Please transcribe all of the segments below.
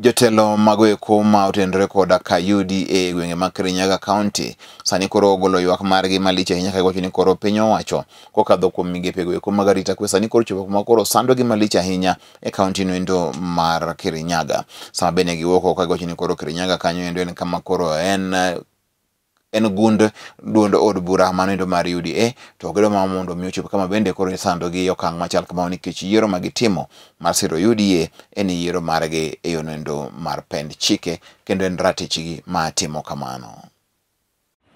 Jotelo mago eko ma otenore koda ka UDA e gwenge mag Kirinyaga County sani koro ogolo ywak margi malich ahinya ka giwacho ni koro piny owacho kokadho kuom migepego eko mag arita kwe sani koro chopo kuma koro sandogi malich ahinya e kaunti no endo mar Kirinyaga. Sama bende giwuok oko ka giwacho ni koro Kirinyaga kanyo endo en kama koro en en gund duond od bura manoendo mar UDA to gido ma mondo mi ochop kama bende koro isando gi okang' machal kamano nikech yiero ma gitimo mar siro UDA en yiero margi e yonoendo mar pend chike kendo en ratichgi ma timo kamano.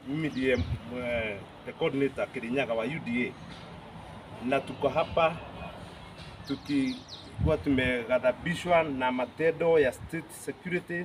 Mimi ndiye eh, the coordinator Kirinyaga wa UDA na tuko hapa tukikuwa tumeghadhabishwa na matendo ya state security